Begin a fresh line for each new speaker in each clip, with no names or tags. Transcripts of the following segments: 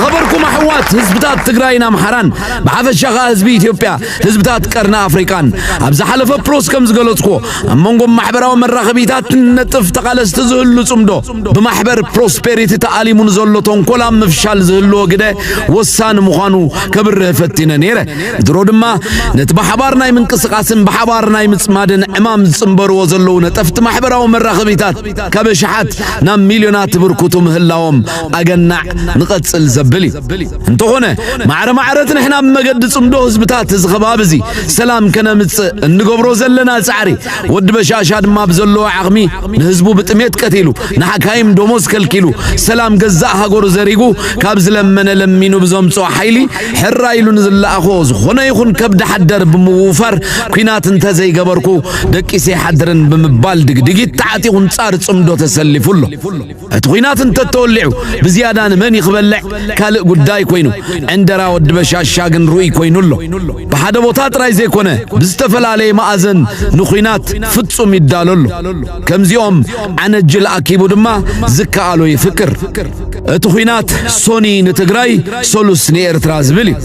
ኸበርኩም ኣሕዋት ህዝብታት ትግራይን ኣምሓራን ብሓፈሻ ከዓ ህዝቢ ኢትዮጵያ ህዝብታት ቀርኒ ኣፍሪቃን ኣብ ዝሓለፈ ፕሎስ ከም ዝገለጽኩ ኣብ መንጎ ማሕበራዊ መራኸቢታት ነጥፍ ተቓለስቲ ዝህሉ ጽምዶ ብማሕበር ፕሮስፔሪቲ ተኣሊሙ ንዘሎ ተንኮል ኣብ ምፍሻል ዝህልዎ ግደ ወሳኒ ምዃኑ ከብርህ ፈቲነ ነይረ ድሮ ድማ ነቲ ብሓባር ናይ ምንቅስቓስን ብሓባር ናይ ምጽማድን ዕማም ዝጽምበርዎ ዘለዉ ነጠፍቲ ማሕበራዊ መራኸቢታት ካብ ሽሓት ናብ ሚልዮናት ብርኩቱ ምህላዎም ኣገናዕ ንቐጽል ዘብል እዩ። እንተኾነ ማዕረ ማዕረት ንሕና ኣብ መገዲ ጽምዶ ህዝብታት እዚ ከባቢ እዚ ሰላም ከነምጽእ እንገብሮ ዘለና ጻዕሪ ወዲ በሻሻ ድማ ብዘለዎ ዓቕሚ ንህዝቡ ብጥሜት ቀቲሉ ንሓካይም ደሞዝ ከልኪሉ ሰላም ገዛእ ሃገሩ ዘሪጉ ካብ ዝለመነ ለሚኑ ብዘምጽኦ ሓይሊ ሕራ ኢሉ ንዝለኣኾ ዝኾነ ይኹን ከብዲ ሓደር ብምውፋር ኩናት እንተዘይገበርኩ ደቂሰ ይሓድርን ብምባል ድግድጊት ተዓጢቑ ንጻር ጽምዶ ተሰሊፉ ኣሎ። እቲ ኹናት እንተተወሊዑ ብዝያዳ ንመን እዩ ክበልዕ ካልእ ጉዳይ ኮይኑ ዕንደራ ወዲ በሻሻ ግን ርኡይ ኮይኑ ኣሎ። ብሓደ ቦታ ጥራይ ዘይኮነ ብዝተፈላለየ መኣዘን ንኹናት ፍጹም ይዳሎ ኣሎ። ከምዚኦም ዓነጅል ኣኪቡ ድማ ዝከኣሎ ይፍክር። እቲ ኹናት ሶኒ ንትግራይ ሶሉስ ንኤርትራ ዝብል እዩ።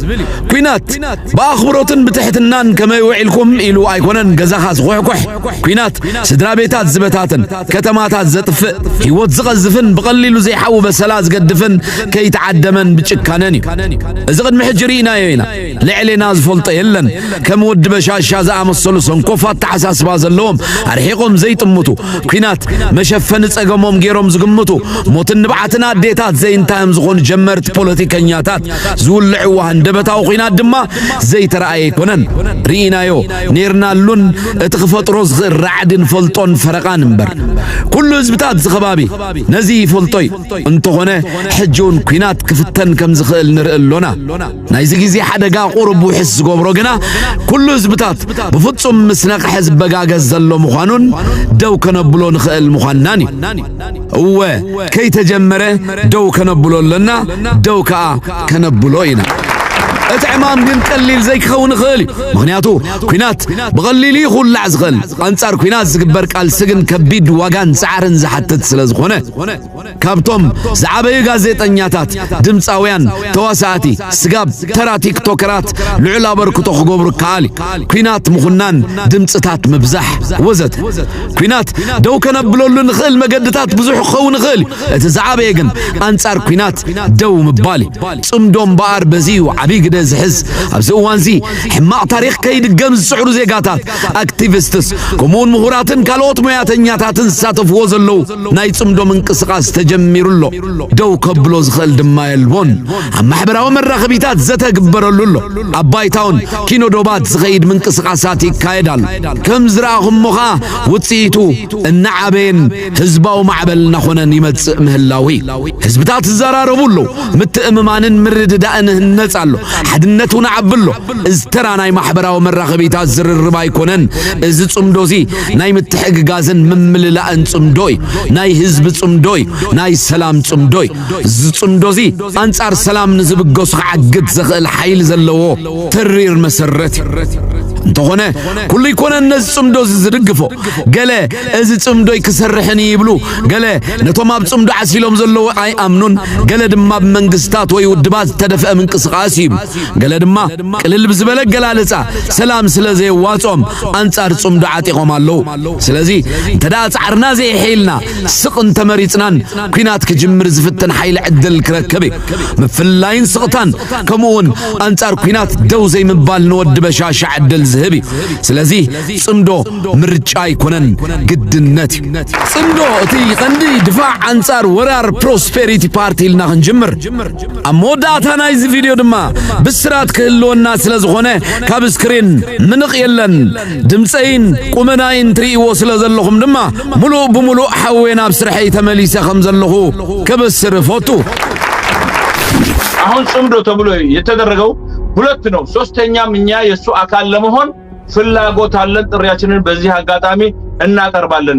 ኲናት ብኣኽብሮትን ብትሕትናን ከመይ ውዒልኩም ኢሉ ኣይኮነን ገዛኻ ዝኹሕኩሕ ኲናት ስድራቤታት ዝበታትን ከተማታት ዘጥፍእ ህይወት ዝቐዝፍን ብቐሊሉ ዘይሓዊ በሰላ ዝገድፍን ከይተዓደመን ብጭካነን እዩ እዚ ቅድሚ ሕጂ ርኢናዮ ኢና ልዕሌና ዝፈልጦ የለን ከም ወዲ በሻሻ ዝኣመሰሉ ሰንኮፍ ኣተሓሳስባ ዘለዎም ኣርሒቖም ዘይጥምቱ ኲናት መሸፈኒ ጸገሞም ገይሮም ዝግምቱ ሞትን ንብዓትን ኣዴታት ዘይንታዮም ዝኾኑ ጀመርቲ ፖለቲከኛታት ዝውልዕዋ ሃንደበታዊ ኲናት ድማ ዘይተረኣየ ኣይኮነን ርኢናዮ ኔርናሉን እቲ ክፈጥሮ ዝኽእል ራዕድን ፈልጦን ፈረቓን እምበር ኩሉ ህዝብታት እዚ ከባቢ ነዚ ይፈልጦ እዩ። እንተኾነ ሕጂ ውን ኩናት ክፍተን ከም ዝኽእል ንርኢ ኣሎና። ናይዚ ግዜ ሓደጋ ቁሩብ ውሕስ ዝገብሮ ግና ኩሉ ህዝብታት ብፍጹም ምስ ነቕሐ ዝበጋገስ ዘሎ ምዃኑን ደው ከነብሎ ንኽእል ምዃንናን እዩ። እወ ከይተጀመረ ደው ከነብሎ ኣለና ደው ከኣ ከነብሎ ኢና እቲ ዕማም ግን ቀሊል ዘይክኸውን ይኽእል እዩ ምክንያቱ ኩናት ብቐሊሉ እዩ ክውላዕ ዝኽእል ኣንጻር ኩናት ዝግበር ቃልሲ ግን ከቢድ ዋጋን ጻዕርን ዝሓትት ስለ ዝኾነ ካብቶም ዝዓበዩ ጋዜጠኛታት ድምፃውያን ተዋሳእቲ ስጋብ ተራ ቲክቶከራት ልዑል ኣበርክቶ ክገብሩ ይከኣል እዩ ኩናት ምኹናን ድምፅታት ምብዛሕ ወዘተ ኲናት ደው ከነብለሉ ንኽእል መገድታት ብዙሕ ክኸውን ይኽእል እዩ። እቲ ዝዓበየ ግን ኣንጻር ኲናት ደው ምባል እዩ። ጽምዶ እምበኣር በዚ እዩ ዓብዪ ግደ ዝሕዝ። ኣብዚ እዋን እዚ ሕማቕ ታሪኽ ከይድገም ዝጽዕሩ ዜጋታት፣ ኣክቲቪስትስ፣ ከምኡውን ምሁራትን ካልኦት ሞያተኛታትን ዝሳተፍዎ ዘለዉ ናይ ጽምዶ ምንቅስቓስ ተጀሚሩ ኣሎ፣ ደው ከብሎ ዝኽእል ድማ የልቦን። ኣብ ማሕበራዊ መራኸቢታት ዘተ ግበረሉ ኣሎ፣ ኣብ ባይታውን ኪኖ ዶባት ዝኸይድ ምንቅስቓሳት ይካየድ ኣሎ። ከም ዝረኣኹሞ ከኣ ውጽኢቱ እናዓበየን ህዝባዊ ማዕበል እናኾነን ይመጽእ ምህላዉ እዩ። ህዝብታት ይዘራረቡ ኣለዉ፣ ምትእምማንን ምርድዳእን ይህነጽ ኣሎ፣ ሓድነት እውን ይዓቢ ኣሎ። እዚ ተራ ናይ ማሕበራዊ መራኸቢታት ዝርርብ ኣይኮነን፣ እዚ ጽምዶ እዚ ናይ ምትሕግጋዝን ምምልላእን ጽምዶ እዩ። ናይ ህዝቢ ጽምዶ እዩ። ናይ ሰላም ጽምዶ እዩ። እዚ ጽምዶ እዚ ኣንጻር ሰላም ንዝብገሱ ክዓግት ዘኽእል ሓይሊ ዘለዎ ተሪር መሰረት እዩ። እንተኾነ ኩሉ ኣይኮነን ነዚ ጽምዶ እዚ ዝድግፎ። ገለ እዚ ጽምዶይ ክሰርሕን እዩ ይብሉ፣ ገለ ነቶም ኣብ ጽምዶ ዓሲሎም ዘለዉ ኣይኣምኑን፣ ገለ ድማ ብመንግስታት ወይ ውድባት ዝተደፍአ ምንቅስቓስ እዩ ይብሉ፣ ገለ ድማ ቅልል ብዝበለ ኣገላልጻ ሰላም ስለ ዘየዋጽኦም ኣንጻር ጽምዶ ዓጢቖም ኣለዉ። ስለዚ እንተደኣ ጻዕርና ዘየሐይልና ስቕ እንተመሪጽናን ኲናት ክጅምር ዝፍትን ሓይሊ ዕድል ክረክብ እዩ። ምፍልላይን ስቕታን ከምኡውን ኣንጻር ኲናት ደው ዘይምባል ንወዲ በሻሻ ዕድል ዝህብ እዩ። ስለዚ ጽምዶ ምርጫ ኣይኮነን ግድነት እዩ። ጽምዶ እቲ ቀንዲ ድፋዕ ኣንጻር ወራር ፕሮስፔሪቲ ፓርቲ ኢልና ክንጅምር ኣብ መወዳእታ ናይዚ ቪድዮ ድማ ብስራት ክህልወና ስለ ዝኾነ ካብ ስክሪን ምንቕ የለን ድምፀይን ቁመናይን ትርእይዎ ስለ ዘለኹም ድማ ሙሉእ ብሙሉእ ሓዌ ናብ ስርሐይ ተመሊሰ ከም ዘለኹ ከበስር እፈቱ። አሁን
ጽምዶ ተብሎ የተደረገው ሁለት ነው። ሶስተኛም እኛ የእሱ አካል ለመሆን ፍላጎት አለን። ጥሪያችንን በዚህ አጋጣሚ እናቀርባለን።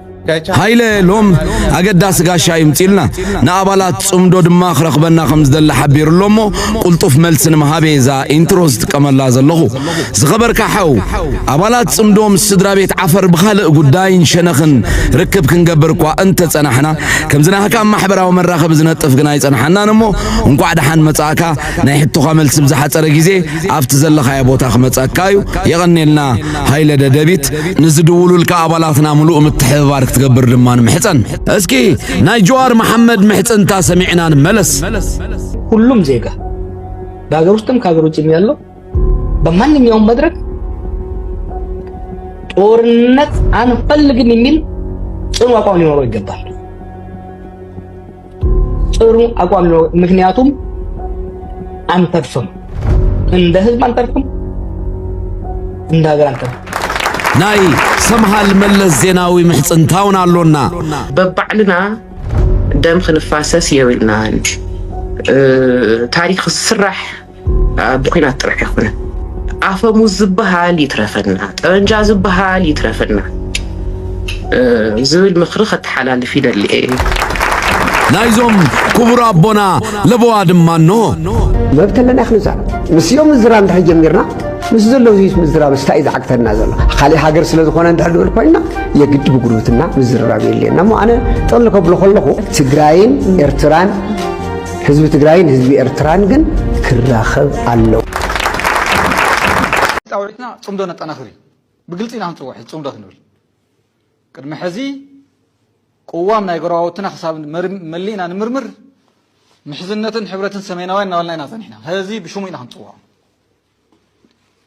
ሃይለ ሎም ኣገዳሲ ጋሻ ይምጺልና ንኣባላት ጽምዶ ድማ ክረኽበና ከም ዝደሊ ሓቢሩ ኣሎ እሞ ቁልጡፍ መልሲ ንምሃብ እየ እዛ ኢንትሮ ዝጥቀመላ ዘለኹ ዝኸበርካ ሓው ኣባላት ጽምዶ ምስ ስድራ ቤት ዓፈር ብኻልእ ጉዳይን ሸነኽን ርክብ ክንገብር እኳ እንተጸናሕና ከምዚ ናህካ ማሕበራዊ መራኸቢ ዝነጥፍ ግና ኣይጸንሓናን እሞ እንቋዕ ደሓን መጻእካ ናይ ሕቶኻ መልሲ ብዝሓጸረ ግዜ ኣብቲ ዘለኻዮ ቦታ ክመጸካ እዩ የቐኔልና ሃይለ ደደቢት ንዝድውሉልካ ኣባላትና ምሉእ ምትሕብባር ክትገብር ድማ ንምሕጸን። እስኪ ናይ ጀዋር መሓመድ ምሕጽንታ ሰሚዕና ንመለስ። ሁሉም
ዜጋ በሀገር ውስጥም ከሀገር ውጭም ያለው በማንኛውም መድረክ ጦርነት አንፈልግም የሚል ጽኑ አቋም ሊኖረው ይገባል። ጥሩ አቋም ነው። ምክንያቱም አንተርፍም፣ እንደ ህዝብ አንተርፍም፣ እንደ ሀገር አንተርፍም። ናይ
ሰምሃል መለስ ዜናዊ ምሕፅንታውን ኣሎና በባዕልና
ደም ክንፋሰስ የብልናን ታሪክ ስራሕ ብኩናት ጥራሕ ኣይኮነን ኣፈሙዝ ዝበሃል ይትረፈና፣ ጠበንጃ ዝበሃል ይትረፈና ዝብል ምክሪ ከተሓላልፍ ይደሊ እዩ።
ናይዞም ክቡር ኣቦና ለበዋ ድማ እኖ መብት ኣለና
ክንዛር ምስኦም ምዝራብ እንድሕር ጀሚርና ምስ ዘሎ ህዝቢ ምዝራብ ስታይ እዩ ዝዓግተና ዘሎ ካልእ ሃገር ስለ ዝኾነ እንድሕር ንብል ኮይና የግዲ ብጉርብትና ምዝርራብ የድልየና እሞ ኣነ ጠቕሊ ከብሎ ከለኹ ትግራይን ኤርትራን ህዝቢ ትግራይን ህዝቢ ኤርትራን ግን ክራኸብ ኣለዎ።
ፃውዒትና ፅምዶ ነጠናኽር እዩ። ብግልፂ ኢና ክንፅውዕ ሕዚ ፅምዶ ክንብል ቅድሚ ሕዚ ቅዋም ናይ ጎረባብትና ክሳብ መሊእና ንምርምር ምሕዝነትን ሕብረትን ሰሜናውያን እናበልና ኢና ፀኒሕና። ሕዚ ብሽሙ ኢና ክንፅውዖ።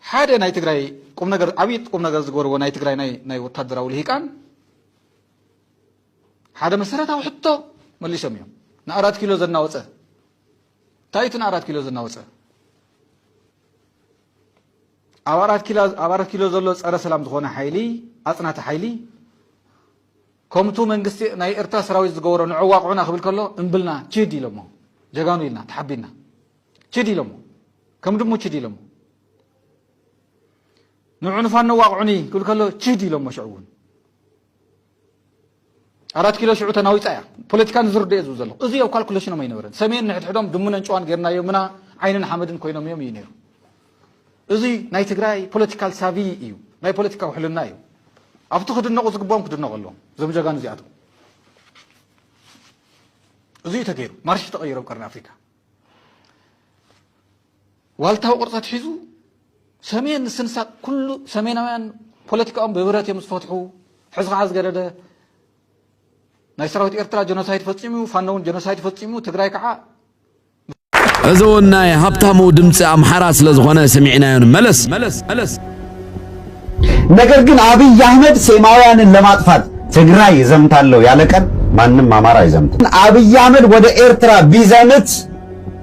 ሓደ ናይ ትግራይ ቁም ነገር ዓብዪ ቁም ነገር ዝገበርዎ ናይ ትግራይ ናይ ወታደራዊ ልሂቃን ሓደ መሰረታዊ ሕቶ መሊሶም እዮም ንኣራት ኪሎ ዘናወፀ እንታይ እቲ ንኣራት ኪሎ ዘናወፀ ኣብ ኣራት ኪሎ ዘሎ ፀረ ሰላም ዝኾነ ሓይሊ ኣፅናቲ ሓይሊ ከምቱ መንግስቲ ናይ ኤርትራ ሰራዊት ዝገበሮ ንዕዋቕዑና ክብል ከሎ እምብልና ችድ ኢሎሞ ጀጋኑ ኢልና ተሓቢና ችድ ኢሎሞ ከም ድሙ ችድ ኢሎሞ ንዑ ንፋኖ ዋቕዑኒ ክብል ከሎ ችድ ኢሎሞ ሽዑ እውን ኣራት ኪሎ ሽዑ ተናዊጻ እያ ፖለቲካ ንዝርድኦ ዝብል ዘለኹ እዚ ኣብ ካልኩሌሽኖም ኣይነበረን ሰሜን ንሕድሕዶም ድሙነን ጨዋን ጌርናዮምና ዓይንን ሓመድን ኮይኖም እዮም እዩ ነይሩ እዚ ናይ ትግራይ ፖለቲካል ሳቪ እዩ ናይ ፖለቲካ ውሕልና እዩ ኣብቲ ክድነቑ ዝግብኦም ክድነቑ ኣለዎም እዞም ጀጋኑ እዚኣቶም እዚ እዩ ተገይሩ ማርሽ ተቐይሮም ቀርኒ ኣፍሪካ ዋልታዊ ቅርጺ ኣትሒዙ ሰሜን ንስንሳእ ኩሉ ሰሜናውያን ፖለቲካኦም ብብረት እዮም ዝፈትሑ ሕዚ ከዓ ዝገደደ ናይ ሰራዊት ኤርትራ ጀኖሳይድ ፈጺሙ እዩ ፋኖ እውን ጀኖሳይድ ፈጺሙ ትግራይ ከዓ
እዚ እውን ናይ ሃብታሙ ድምፂ ኣምሓራ ስለ ዝኾነ ስሚዕናዮ ንመለስ
ነገር ግን አብይ አህመድ ሴማውያንን ለማጥፋት ትግራይ ይዘምታለው ያለ ቀን ማንም አማራ አይዘምትም። አብይ አህመድ ወደ ኤርትራ ቢዘምት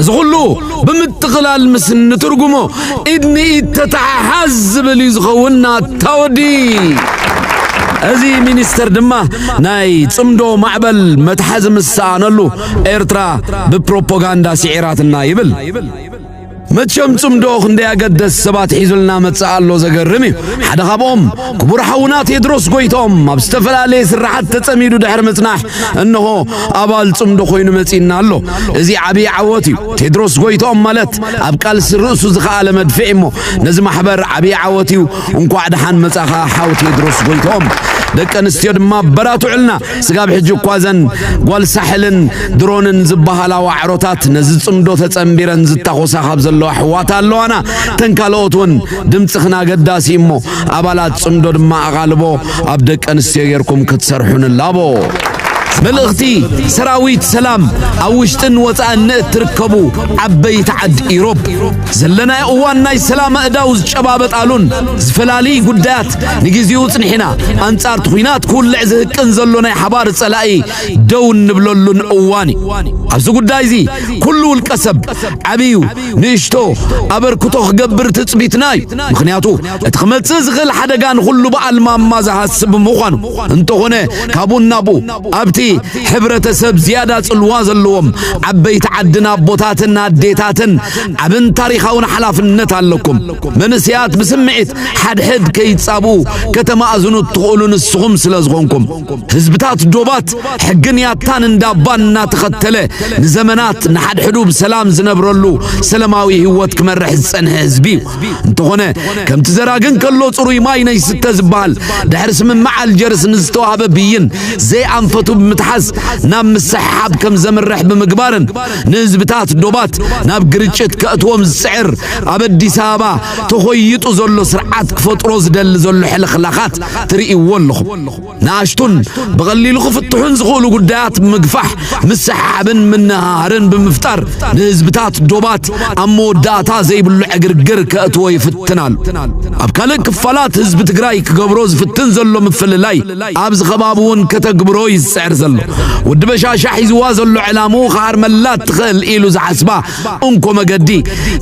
እዚ ኹሉ ብምጥቕላል ምስ እንትርጉሞ ኢድ ንኢድ ተተሓሓዝ ዝብል እዩ ዝኸውን ናታወዲ እዚ ሚኒስተር ድማ ናይ ጽምዶ ማዕበል መትሓዚ ምስ ሰኣነሉ ኤርትራ ብፕሮፓጋንዳ ስዒራትና ይብል መቸም ጽምዶ ክንደይ ኣገደስ ሰባት ሒዙልና መጽእ ኣሎ ዘገርም እዩ ሓደ ካብኦም ክቡር ሓውና ቴድሮስ ጎይቶም ኣብ ዝተፈላለየ ስራሓት ተጸሚዱ ድሕሪ ምጽናሕ እንሆ ኣባል ጽምዶ ኮይኑ መጺእና ኣሎ እዚ ዓብዪ ዓወት እዩ ቴድሮስ ጎይቶም ማለት ኣብ ቃልሲ ርእሱ ዝኸኣለ መድፍዕ እሞ ነዚ ማሕበር ዓብዪ ዓወት እዩ እንኳዕ ደሓን መጻኻ ሓው ቴድሮስ ጎይቶም ደቂ ኣንስትዮ ድማ በራትዑልና ስጋብ ሕጂ እኳ እዘን ጓል ሳሕልን ድሮንን ዝበሃላ ዋዕሮታት ነዚ ጽምዶ ተጸንቢረን ዝታኾሳ ካብ ዘለዋ ኣሕዋት ኣለዋና ተን ካልኦት እውን ድምጽኽን ኣገዳሲ እሞ ኣባላት ጽምዶ ድማ ኣቓልቦ ኣብ ደቂ ኣንስትዮ ጌርኩም ክትሰርሑ ንላቦ መልእኽቲ
ሰራዊት ሰላም ኣብ ውሽጥን ወፃእን ንእትርከቡ ዓበይቲ ዓዲ ኢሮብ ዘለናዮ እዋን ናይ ሰላም ኣእዳው ዝጨባበጣሉን ዝፈላልይ ጉዳያት ንግዜኡ ጽኒሕና ኣንጻርቲ ኲናት ክውልዕ ዝህቅን ዘሎ ናይ ሓባር ጸላኢ ደው እንብለሉን እዋን እዩ። ኣብዚ ጉዳይ እዚ ኩሉ ውልቀ ሰብ ዓብዩ ንእሽቶ ኣበርክቶ ክገብር ትጽቢትና እዩ። ምክንያቱ እቲ ክመጽእ ዝኽእል ሓደጋ ንኹሉ በዓል ማማ ዝሃስብ ምዃኑ እንተኾነ ካብኡ ናብኡ ኣብቲ ሕብረተሰብ ዝያዳ ጽልዋ ዘለዎም ዓበይቲ ዓድን ኣቦታትን ኣዴታትን ዓብን ታሪኻውን ሓላፍነት ኣለኩም። ይሕግዘኩም። መንእሰያት ብስምዒት ሓድሕድ ከይጻብኡ ከተማእዝኑ እትኽእሉ ንስኹም ስለ ዝኾንኩም። ህዝብታት ዶባት ሕግን ያታን እንዳባን እናተኸተለ ንዘመናት ንሓድሕዱ ብሰላም ዝነብረሉ ሰለማዊ ህይወት ክመርሕ ዝጸንሐ ህዝቢ እዩ። እንተኾነ ከምቲ ዘራግን ከሎ ጽሩይ ማይ ነይስተ ዝበሃል ድሕሪ ስምምዕ ኣልጀርስ ንዝተዋህበ ብይን ዘይኣንፈቱ ብምትሓዝ ናብ ምስሕሓብ ከም ዘምርሕ ብምግባርን ንህዝብታት ዶባት ናብ ግርጭት ከእትዎም ዝጽዕር ኣብ ኣዲስ ኣበባ ተኾይጡ ዘሎ ስርዓት ክፈጥሮ ዝደሊ ዘሎ ሕልኽላኻት ትርእይዎ ኣለኹም። ንኣሽቱን ብቐሊሉ ክፍትሑን ዝኽእሉ ጉዳያት ምግፋሕ፣ ምስሕሓብን ምንህሃርን ብምፍጣር ንህዝብታት ዶባት ኣብ መወዳእታ ዘይብሉ ዕግርግር ከእትዎ ይፍትን ኣሎ። ኣብ ካልእ ክፋላት ህዝቢ ትግራይ ክገብሮ ዝፍትን ዘሎ ምፍልላይ ኣብዚ ከባቢ እውን ከተግብሮ እዩ ዝጽዕር ዘሎ። ወዲ በሻሻ ሒዝዋ ዘሎ ዕላምኡ ክሃርመላ እትኽእል ኢሉ ዝሓስባ እንኮ መገዲ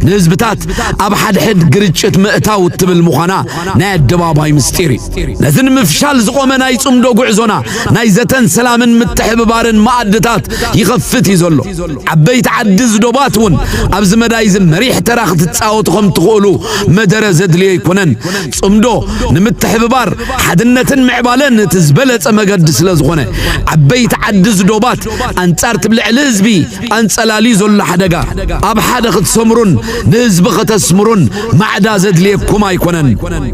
ንህዝብታት ኣብ ሓድሕድ ግርጭት ምእታው እትብል ምዃና ናይ ኣደባባይ ምስጢር እዩ ነዚ ንምፍሻል ዝቖመ ናይ ጽምዶ ጉዕዞና ናይ ዘተን ሰላምን ምትሕብባርን መኣድታት ይኸፍት እዩ ዘሎ ዓበይቲ ዓዲ ዝዶባት እውን ኣብዚ መዳይ እዚ መሪሕ ተራ ክትጻወቱ ከም ትኽእሉ መደረ ዘድልዮ ኣይኮነን ጽምዶ ንምትሕብባር ሓድነትን ምዕባለን እቲ ዝበለጸ መገዲ ስለ ዝኾነ ዓበይቲ ዓዲ ዝዶባት ኣንጻር ትብልዕሊ ህዝቢ ኣንጸላልዩ ዘሎ ሓደጋ ኣብ ሓደ ክትሰምሩን ንህዝቢ ከተስምሩን ማዕዳ ዘድልየኩም ኣይኮነን።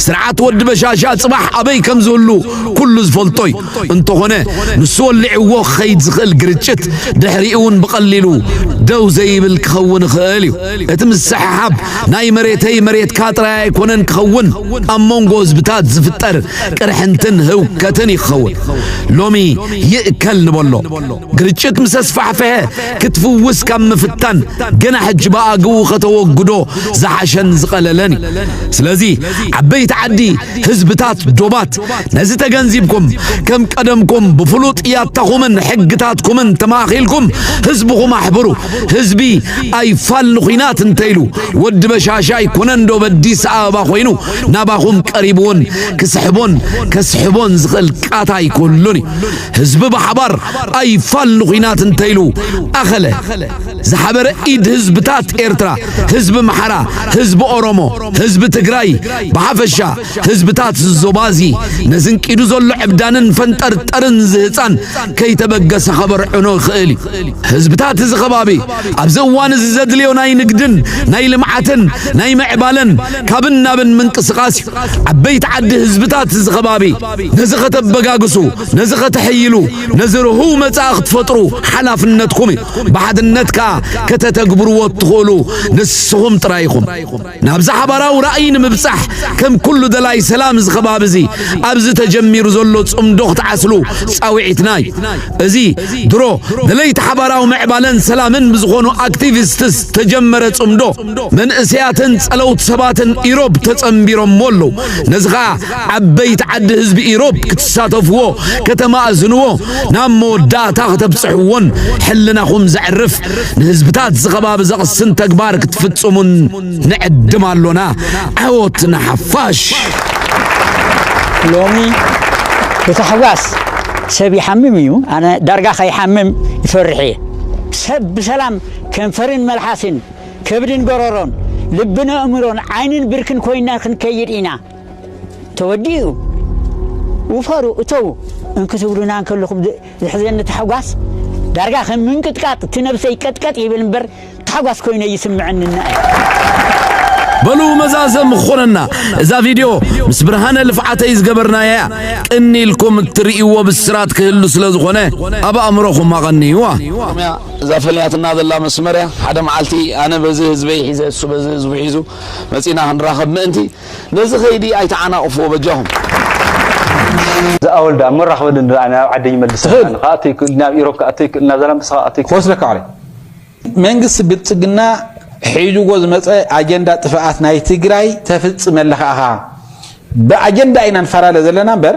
ስርዓት ወዲ በሻሻ ጽባሕ ኣበይ ከም ዝህሉ ኩሉ ዝፈልጦ እዩ። እንተኾነ ንሱ ወሊዕዎ ክኸይድ ዝኽእል ግርጭት ድሕሪኡውን ብቐሊሉ ደው ዘይብል ክኸውን ይኽእል እዩ። እቲ ምስሕሓብ ናይ መሬተይ መሬትካ ጥራይ ኣይኮነን ክኸውን ኣብ መንጎ ህዝብታት ዝፍጠር ቅርሕንትን ህውከትን እዩ ክኸውን። ሎሚ ይእከል ንበሎ። ግርጭት ምስ ኣስፋሕፈሐ ክትፍውስ ካብ ምፍታን ገና ሕጂ ብኣግኡ ከተወግዶ ዝሓሸን ዝቐለለን እዩ ስለዚ ዓበይቲ ዓዲ ህዝብታት ዶባት ነዚ ተገንዚብኩም ከም ቀደምኩም ብፍሉጥ ያታኹምን ሕግታትኩምን ተማእኺልኩም ህዝብኹም ኣሕብሩ ህዝቢ ኣይፋል ንኹናት እንተይሉ ወዲ በሻሻ ኣይኮነን ዶ በዲስ ኣበባ ኮይኑ ናባኹም ቀሪቡውን ክስሕቦን ከስሕቦን ዝኽእል ቃታ ኣይኮሉን እዩ ህዝቢ ብሓባር ኣይፋል ንኹናት እንተይሉ ኣኸለ ዝሓበረ ኢድ ህዝብታት ኤርትራ ህዝቢ ምሓራ ህዝቢ ኦሮሞ ህዝቢ ትግራይ ብሓፈሻ ህዝብታት ዝዞባ እዚ ነዝንቂዱ ዘሎ ዕብዳንን ፈንጠርጠርን ዝህፃን ከይተበገሰ ከበርዕኖ ይኽእል እዩ ህዝብታት እዚ ከባቢ ኣብዚ እዋን እዚ ዘድልዮ ናይ ንግድን ናይ ልምዓትን ናይ ምዕባለን ካብን ናብን ምንቅስቓስ እዩ ዓበይቲ ዓዲ ህዝብታት እዚ ከባቢ ነዚ ከተበጋግሱ፣ ነዚ ከተሕይሉ፣ ነዚ ርሁው መጻኢ ክትፈጥሩ ሓላፍነትኩም እዩ። ብሓድነት ከኣ ከተተግብርዎ እትኽእሉ ንስኹም ጥራይ ኢኹም። ናብዚ ሓባራዊ ራእይ ንምብጻሕ ከም ኩሉ ደላይ ሰላም እዚ ከባቢ እዚ ኣብዚ ተጀሚሩ ዘሎ ጽምዶ ክትዓስሉ ጻውዒትና እዩ። እዚ ድሮ ደለይቲ ሓባራዊ ምዕባለን ሰላምን ብዝኾኑ ኣክቲቪስትስ ዝተጀመረ ጽምዶ መንእሰያትን ጸለውቲ ሰባትን ኢሮብ ተጸንቢሮምዎ ኣለዉ። ነዚ ከኣ ዓበይቲ ዓዲ ህዝቢ ኢሮብ ክትሳተፍዎ ከተማእዝንዎ ናብ መወዳእታ ከተብጽሕዎን ሕልናኹም ዘዕርፍ ንህዝብታት ዝኸባቢ ዘቕስን ተግባር ክትፍጽሙን ንዕድም ኣሎና ዓወት ንሓፋሽ
ሎሚ ብታሕጓስ ሰብ ይሓምም እዩ ኣነ ዳርጋ ከይሓምም ይፈርሕ እየ ሰብ ብሰላም ከንፈርን መልሓስን ከብድን ጎረሮን ልብን ኣእምሮን ዓይንን ብርክን ኮይና ክንከይድ ኢና ተወዲኡ ውፈሩ እተዉ እንክትብሉና እንከለኹም ዝሕዘኒ ታሕጓስ ዳርጋ ከም ምንቅጥቃጥ እቲ ነብሰይ ቀጥቀጥ ይብል እምበር ታሕጓስ ኮይነ ይስምዐንና
በሉ መዛዘም ክኾነና እዛ ቪድዮ ምስ ብርሃነ ልፍዓተይ ዝገበርናያ እያ ቅኒ ኢልኩም እትርእይዎ ብስራት ክህሉ ስለ ዝኾነ ኣብ ኣእምሮኹም ኣቐንይዋ እያ እዛ
ፈልያትና ዘላ መስመር እያ ሓደ መዓልቲ ኣነ በዚ ህዝበይ ሒዘ እሱ በዚ ህዝቡ ሒዙ መፂና ክንራኸብ ምእንቲ ነዚ ከይዲ ኣይተዓናቅፍዎ በጃኹም። እዚ
ኣወል ድኣ እሞ ራክበኒ እንድኣ ናብ ዓደይ ይመልሰኒ ኣነ ክኣቱ ኣይክእልን ናብ ኢሮብ ክኣቱ ኣይክእልን ናብ ዛላምበሳ ክኣቱ ኣይክእልን ክወስደካ
ኣረ መንግስቲ ብልጽግና ሒዝዎ ዝመጸ ኣጀንዳ ጥፍኣት ናይ ትግራይ ተፍጽመለካ ኢኻ ብኣጀንዳ ኢና ንፈላለ ዘለና እምበር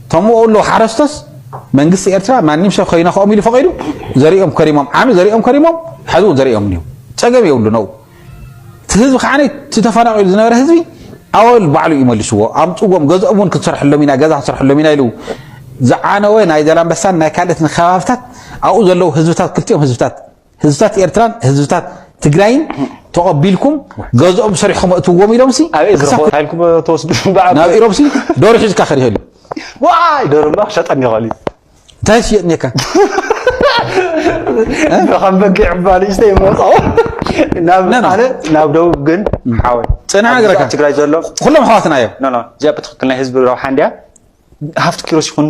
ከምኡ ኣሎ ሓረስቶስ መንግስቲ ኤርትራ ማንም ሰብ ከይነክኦም ኢሉ ፈቂዱ ዘሪኦም ከሪሞም ዓሚ ዘሪኦም ከሪሞም ሓዚ እውን ዘሪኦም እኒው ፀገም የብሉ ነው እቲ ህዝቢ ከዓ እቲ ተፈናቂሉ ዝነበረ ህዝቢ ኣወል ባዕሉ እዩ መልስዎ ኣምፅዎም ገዝኦም እውን ክትሰርሐሎም ኢና ገዛ ክትሰርሐሎም ኢና ኢሉ ዝዓነወ ናይ ዘላንበሳን ናይ ካልእት ከባብታት ኣብኡ ዘለዉ ህዝብታት ክልቲኦም ህዝብታት ህዝብታት ኤርትራን ህዝብታት ትግራይን ተቐቢልኩም ገዝኦም ሰሪሕኩም እእትዎም ኢሎምሲ ናብ ኢሮብሲ ዶሮ ሒዝካ ክሪኦ ኢሉ ዋይ ዶሮ እምባ ክሸጠኒ ይኽእል እዩ እንታይ ሽየጥኒካ ከም በጊዕ እባ ንእሽተይ መውፅኦ ናብ ኣነ ናብ ደቡብ ግን ሓወይ ፅንዕ ነገረካ ትግራይ ዘሎ ኩሎም ኣሕዋትና እዮም እዚኣ ብትክክል ናይ ህዝቢ ረብሓ እንድያ ሃፍቲ ኪሮስ ይኹን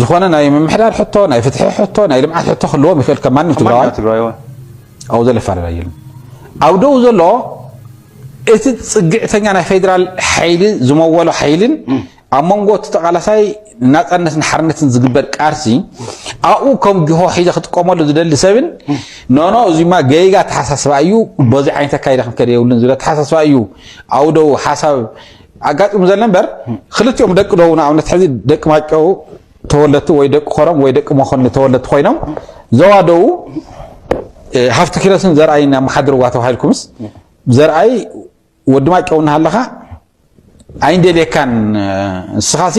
ዝኾነ ናይ ምምሕዳር ሕቶ፣ ናይ ፍትሒ ሕቶ፣ ናይ ልምዓት ሕቶ ክህልዎም ይኽእል ከም ማንም ትግራዋይ ኣብኡ ዘሎ ይፈላለ የለን። ኣብ ደኡ ዘሎ እቲ ፅግዕተኛ ናይ ፌዴራል ሓይሊ ዝመወሎ ሓይልን ኣብ መንጎ እቲ ተቃላሳይ ናፃነትን ሓርነትን ዝግበር ቃልሲ ኣብኡ ከም ጅሆ ሒዘ ክጥቀመሉ ዝደሊ ሰብን ኖኖ እዚማ ገይጋ ተሓሳስባ እዩ በዚ ዓይነት ኣካይዳ ክንከደ የብሉን ዝብለ ተሓሳስባ እዩ ኣብኡ ደኡ ሓሳብ ኣጋጢሙ ዘሎ እምበር ክልቲኦም ደቂ ዶ ንኣብነት ሕዚ ደቂ ማጨው ተወለድቲ ወይ ደቂ ኮረም ወይ ደቂ መኮንን ተወለድቲ ኮይኖም ዞባ ደቡብ ሃፍቲ ኪሮስን ዘርኣይን ኣመሓድርዋ ተባሂልኩምስ ዘርኣይ ወዲ ማጨው እናሃለኻ ኣይንደልየካን ንስኻሲ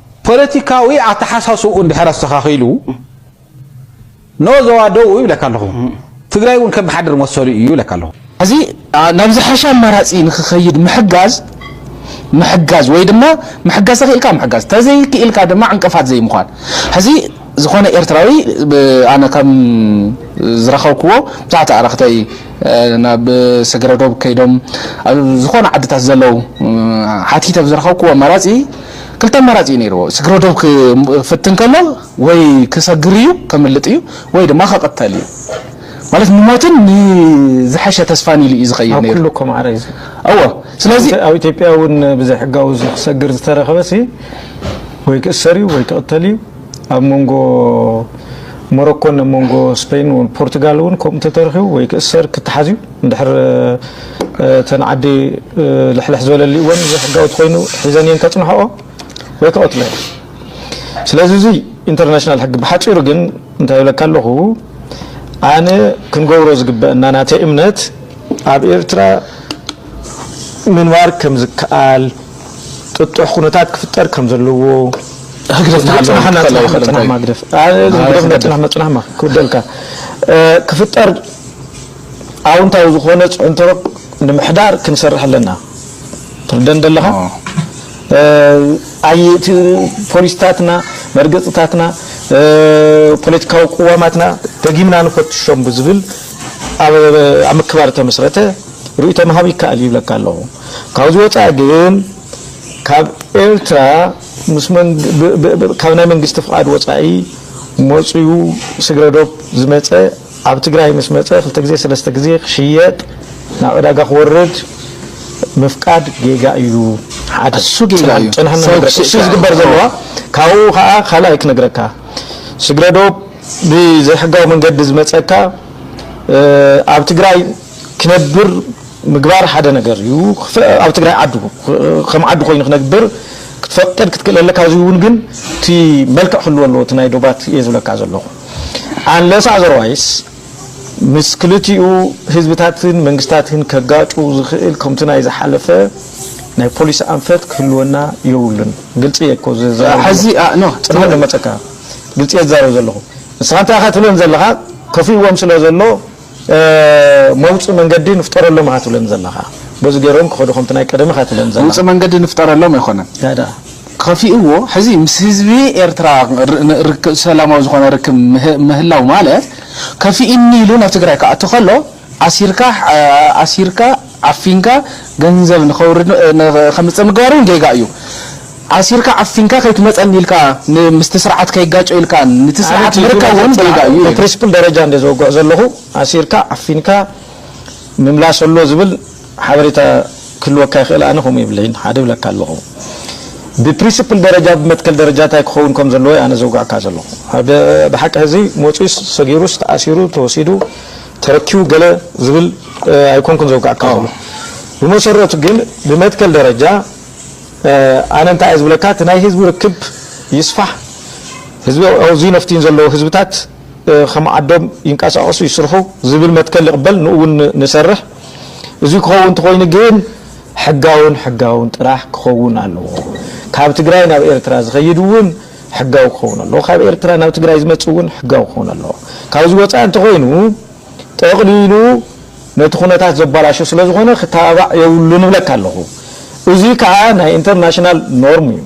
ፖለቲካዊ ኣተሓሳስብኡ እንድሕር ኣስተኻኺሉ ን ዞባ ደቡብ ይብለካ ኣለኹ፣ ትግራይ እውን ከመሓድር መሰሉ እዩ ይብለካ ኣለኹ። እዚ ናብ ዝሐሸ ኣማራፂ ንክኸይድ ምሕጋዝ ምሕጋዝ ወይ ድማ ምሕጋዝ ተኽኢልካ ምሕጋዝ ተዘይክኢልካ ድማ ዕንቅፋት ዘይምዃን ሕዚ ዝኾነ ኤርትራዊ ኣነ ከም ዝረኸብክዎ ብዙሓት ኣዕርኽተይ ናብ ሰገረ ዶብ ከይዶም ኣብ ዝኾነ ዓድታት ዘለዉ ሓቲተ ብዝረኸብክዎ ኣማራፂ ክልተ ኣማራጺ እዩ ነይርዎ፣ ስግረ ዶብ ክፍትን ከሎ ወይ ክሰግር እዩ፣ ከምልጥ እዩ፣ ወይ ድማ ክቕተል እዩ። ማለት ንሞትን ንዝሐሸ ተስፋን ኢሉ እዩ ዝኸይድ ነይሩ። ኣብ ኩሉ እኮ ማዕረ እዩ ዘሎ። እወ ስለዚ ኣብ ኢትዮጵያ እውን ብዘይሕጋዊ ክሰግር ዝተረኸበሲ ወይ ክእሰር እዩ ወይ ክቕተል እዩ። ኣብ መንጎ ሞሮኮን ኣብ መንጎ ስፔን ፖርቱጋል እውን ከምኡ ተተረኺቡ ወይ ክእሰር ክተሓዝ እዩ። እንድሕር እተን ዓዲ ልሕልሕ ዝበለሊእወን ዘይሕጋዊ ተኮይኑ ሒዘን እየን ከፅንሕኦ ወይ ክቐትሎ እየን ስለዚ እዚ ኢንተርናሽናል ሕጊ ብሓፂሩ ግን እንታይ ይብለካ ኣለኹ ኣነ ክንገብሮ ዝግበአና ናተይ እምነት ኣብ ኤርትራ ምንባር ከም ዝከኣል ጥጡሕ ኩነታት ክፍጠር ከም ዘለዎ
ህግደፍ መፅናሕማ ግደፍ መፅናሕማ ክውደልካ ክፍጠር ኣውንታዊ ዝኾነ ፅዕንቶ ንምሕዳር ክንሰርሕ ኣለና ትርደን ደለኻ ኣይ እቲ ፖሊስታትና መርገፅታትና ፖለቲካዊ ቅዋማትና ደጊምና ንፈትሾም ብዝብል ኣብ ምክባር ተመስረተ ርእይቶ ምሃብ ይከኣል ይብለካ ኣለኹ ካብዚ ወፃኢ ግን ካብ ኤርትራ ምስ ካብ ናይ መንግስቲ ፍቓድ ወፃኢ መፅዩ ስግረዶብ ዝመፀ ኣብ ትግራይ ምስ መፀ ክልተ ግዜ ሰለስተ ግዜ ክሽየጥ ናብ ዕዳጋ ክወርድ ምፍቃድ ጌጋ እዩ ሓደ እሱ ጌጋ እዩ ሰው
ክስእሱ
ዝግበር ዘለዋ ካብኡ ከዓ ካልኣይ ክነግረካ ስግረዶብ ብዘይሕጋዊ መንገዲ ዝመፀካ ኣብ ትግራይ ክነብር ምግባር ሓደ ነገር እዩ ኣብ ትግራይ ዓዱ ከም ዓዱ ኮይኑ ክነግብር ክትፈቅድ ክትክእል ኣለካ እዚውን ግን እቲ መልክዕ ክህልዎ ኣለዎ እቲ ናይ ዶባት እየ ዝብለካ ዘለኹ Unless otherwise ምስ ክልቲኡ ህዝብታትን መንግስታትን ከጋጩ ዝኽእል ከምቱ ናይ ዝሓለፈ ናይ ፖሊሲ ኣንፈት ክህልወና ዮብሉን። ግልጺ እየ እኮ ዝዛረብ ሐዚ ዘለኹ። ኣእ
ኖህ ጽባሕ ትበል። ንመጸካ።
ግልጺ እየ ዝዛረብ ዘለኹ። ንስኻ እንታይ ኢኻ ትብለን ዘለኻ ከፊእዎም ስለ ዘሎ፣ መውጽእ መንገዲ ንፍጠረሎም እኻ ትብለን ዘለኻ በዚ ገሮም ክኸዱ ከምቲ ናይ ቀደም እኻ ትብለን ዘለኻ። መውጽእ መንገዲ ንፍጠረሎም
ኣይኮነን። ታይ ደኣ?
ከፊእዎ
ሕዚ ምስ ህዝቢ ኤርትራ ሰላማዊ ዝኾነ ርክብ ምህላው ማለት ከፊእኒ ኢሉ ናብ ትግራይ ክኣቱ ከሎ ኣሲርካ ኣሲርካ ዓፊንካ ገንዘብ ንኸውርድ ከምጽእ ምግባር ውን ጌጋ እዩ። ኣሲርካ ዓፊንካ ከይትመጸኒ ኢልካ ን ምስቲ ስርዓት ከይጋጮ ኢልካ ንቲ ስርዓት ኣነ ችግር ምርካብ ውን ጌጋ ኣይተጽናዕ እዩ ኢዩ። ብፕሪስፕል ደረጃ እንድየ
ዘውግዕ ዘለኹ ኣሲርካ ዓፊንካ ምምላስ ኣሎ ዝብል ሓበሬታ ክህልወካ ይኽእል ኣነ ከምኡ የብለይን ሓደ ይብለካ ኣለኹ ብፕሪስፕል ደረጃ ብመትከል ደረጃ እንታይ ክኸውን ከም ዘለዎ እየ ኣነ ዘውግዕካ ዘለኹ ኣብ ብሓቂ ሕዚ መጺኡስ ሰጊሩስ ተኣሲሩ ተወሲዱ ተረኪቡ ገለ ዝብል ኣይኮንኩን ዘውግዕካ ዘለኹ ብመሰረቱ ግን ብመትከል ደረጃ ኣነ እንታይ እየ ዝብለካ እቲ ናይ ህዝቢ ርክብ ይስፋሕ ህዝቢ ኣውዝዩ ነፍትዩን ዘለዎ ህዝብታት ከም ዓዶም ይንቀሳቀሱ ይስርሑ ዝብል መትከል ይቅበል ንኡ እውን ንሰርሕ እዙይ ክኸውን እንተኾይኑ ግን ሕጋውን ሕጋውን ጥራሕ ክኸውን ኣለዎ ካብ ትግራይ ናብ ኤርትራ ዝኸይድ እውን ሕጋዊ ክኸውን ኣለዎ ካብ ኤርትራ ናብ ትግራይ ዝመፅእ እውን ሕጋዊ ክኸውን ኣለዎ ካብዚ ወፃኢ እንተኾይኑ ጠቅሊሉ ነቲ ኩነታት ዘባላሹ ስለዝኾነ ክተባባዕ የብሉን እብለካ ኣለኹ። እዙይ ከዓ ናይ ኢንተርናሽናል ኖርም እዩ።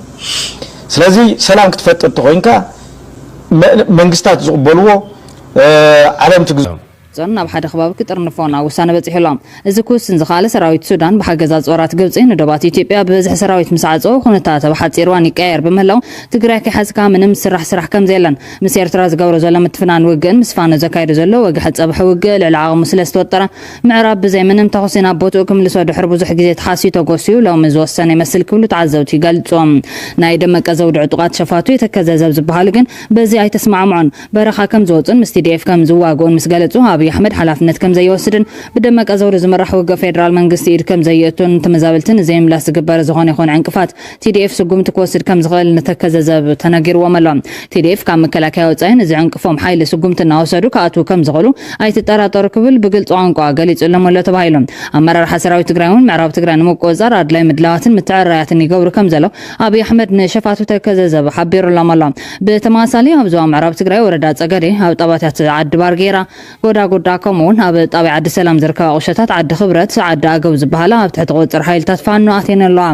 ስለዚ ሰላም ክትፈጥር ተኾይንካ መንግስታት ዝቕበልዎ ዓለም ትግ። ዞን ናብ ሓደ ከባቢ
ክጥርንፎ ናብ ውሳነ በፂሑ ኣሎ። እዚ ክውስን ዝኸኣለ ሰራዊት ሱዳን ብሓገዝ ኣፅዋራት ግብፂ ንዶባት ኢትዮጵያ ብበዝሒ ሰራዊት ምስዓፀወ ኩነታተ ብሓፂር እዋን ይቀያየር ብምህላው ትግራይ ከይሓዝካ ምንም ዝስራሕ ስራሕ ከምዘየለን ምስ ኤርትራ ዝገብሮ ዘሎ ምትፍናን ውግእን ምስ ፋኖ ዘካይዶ ዘሎ ወግሐ ጸብሐ ውግእ ልዕሊ ዓቕሙ ስለ ዝተወጠረ፣ ምዕራብ ብዘይ ምንም ተኹሲ ናብ ቦትኡ ክምልሶ ድሕሪ ብዙሕ ግዜ ተሓስዩ ተጎስዩ ሎሚ ዝወሰነ ይመስል ክብሉ ተዓዘብቲ ይገልጹ። ናይ ደመቀ ዘውዲ ዕጡቓት ሸፋቱ የተከዘ ዘብ ዝበሃሉ ግን በዚ ኣይተስማዕምዑን። በረኻ ከም ዝወጹን ምስ ቲዲኤፍ ከም ዝዋግኡን ምስ ገለጹ፣ ኣብይ ኣሕመድ ሓላፍነት ከም ዘይወስድን ብደመቀ ዘውዲ ዝምራሕ ውግእ ፌደራል መንግስቲ ኢድ ከም ዘየእቱን ንተመዛበልቲ ንዘይምምላስ ዝግበር ዝኾነ ይኹን ዕንቅፋት ቲዲኤፍ ስጉምቲ ክወስድ ከምዝኽእል ንተከዘ ዘብ ተነጊርዎም ኣሎ። ቲዲኤፍ ካብ መከላከያ ወፃኢ ንዝዕንቅፎም ሓይሊ ስጉምቲ እናወሰዱ ክኣትዉ ከምዝኽእሉ ኣይትጠራጠሩ ክብል ብግልፂ ቋንቋ ገሊፁሎም ኣሎ ተባሂሉ። ኣመራርሓ ሰራዊት ትግራይ እውን ምዕራብ ትግራይ ንምቁፅፃር ኣድላይ ምድላዋትን ምትዕርራያትን ይገብሩ ከምዘለው ኣብይ ኣሕመድ ንሸፋቱ ተከዘ ዘብ ሓቢሩሎም ኣሎ። ብተመሳሳሊ ኣብ ዞባ ምዕራብ ትግራይ ወረዳ ፀገዴ ኣብ ጣባትያት ዓዲ ባርጌራ፣ ጎዳጉዳ ከምኡ ውን ኣብ ጣብያ ዓዲ ሰላም ዝርከባ ቁሸታት ዓዲ ክብረት ዓዲ ኣገው ዝብሃላ ኣብ ትሕቲ ቁፅፅር ሓይልታት ፋኖ ኣትየን ኣለዋ።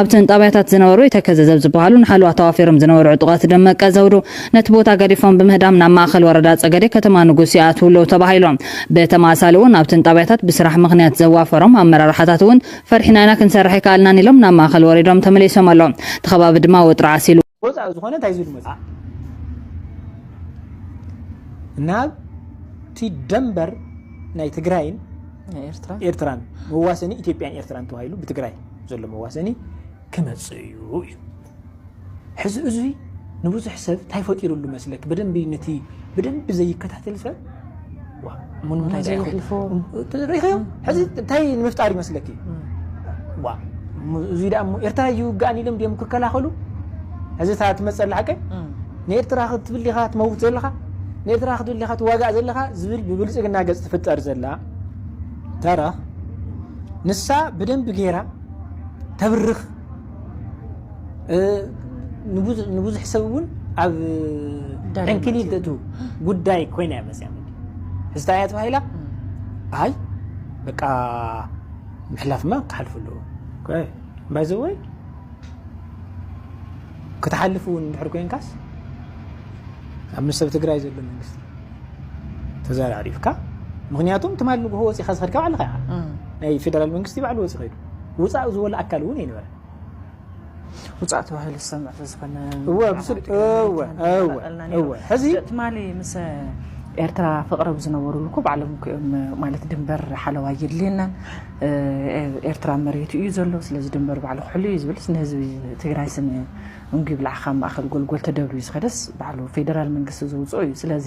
ኣብተን ጣብያታት ዝነበሩ የተከዘ ዘብ ዝብሃሉ ንሓለዋ ተዋፊሮም ዝነበሩ ዕጡቃት ደመቀ ዘውዱ ነቲ ቦታ ገዲፎም ብምህዳም ናብ ማእኸል ወረዳ ፀገዴ ከተማ ንጉስ ይኣትው ኣለው ተባሂሉ። ብተመሳሳሊ ውን ኣብተን ጣብያታት ብስራሕ ምኽንያት ዘዋፈሮም ኣመራርሓታት ውን ፈሪሕና ኢና ክንሰርሕ ኣይከኣልናን ኢሎም ናብ ማእኸል ወሪዶም ተመሊሶም ኣለው። እቲ ከባቢ ድማ ወጥሪ ዓሲሉ። ወፃኢ ዝኾነ እንታይ ዝሉ
መፅኣ ናብ እቲ ደንበር ናይ ትግራይን ኤርትራን መዋሰኒ ኢትዮጵያን ኤርትራን ተባሂሉ ብትግራይ ዘሎ መዋሰኒ ክመፅእ እዩ እዩ ሕዚ እዙይ ንብዙሕ ሰብ እንታይ ፈጢሩሉ መስለክ ብደንቢ ነቲ ብደንቢ ዘይከታተል ሰብ ንምፍጣር ይመስለ እዙይ ኣ ኤርትራ ይውግኣን ኢሎም ም ክከላኸሉ እዚ ትመፀ ሓቀ ንኤርትራ ክትብል ኻ ትመውት ዘለኻ ንኤርትራ ክትብል ኻ ትዋጋእ ዘለኻ ዝብል ብብልፅግና ገፅ ትፍጠር ዘላ ተራ ንሳ ብደንቢ ገይራ ተብርኽ ንብዙሕ ሰብ እውን ኣብ ዕንክሊል ተእቱ ጉዳይ ኮይና እያ መፅያ ሕዝታ እያ ተባሂላ ኣይ በቃ ምሕላፍማ ክሓልፉ ኣለዎ ባይዘወይ ክትሓልፍ እውን እንድሕር ኮንካስ ኣብ ምስ ሰብ ትግራይ ዘሎ መንግስቲ ተዘራሪብካ ምክንያቱም ትማል ንግሆ ወፂኻ ዝኸድካ ባዕልኻ ናይ ፌደራል መንግስቲ ባዕሉ ወፂ ኸይዱ ውፃእ ዝበሎ ኣካል እውን ኣይነበረን።
ውፃእ ተባሂሉ ዝሰምዕ ተዝኾነ እወ ብስል
እወ እወ እወ ሕዚ
ትማሊ ምስ ኤርትራ ፍቕረብ ዝነበሩሉ እኮ ባዕሎም እኮ እዮም ማለት ድንበር ሓለዋ የድልየናን ኤርትራ መሬቱ እዩ ዘሎ ስለዚ ድንበር ባዕሉ ክሕሉ እዩ ዝብልስ ንህዝቢ ትግራይ ስም እዩ እንጉ ብልዓኻ ማእኸል ጎልጎል ተደብርዩ ዝኸደስ ባዕሉ ፌደራል መንግስቲ ዘውፅኦ እዩ ስለዚ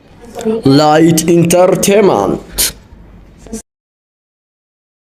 ላይት ኢንተርቴመንት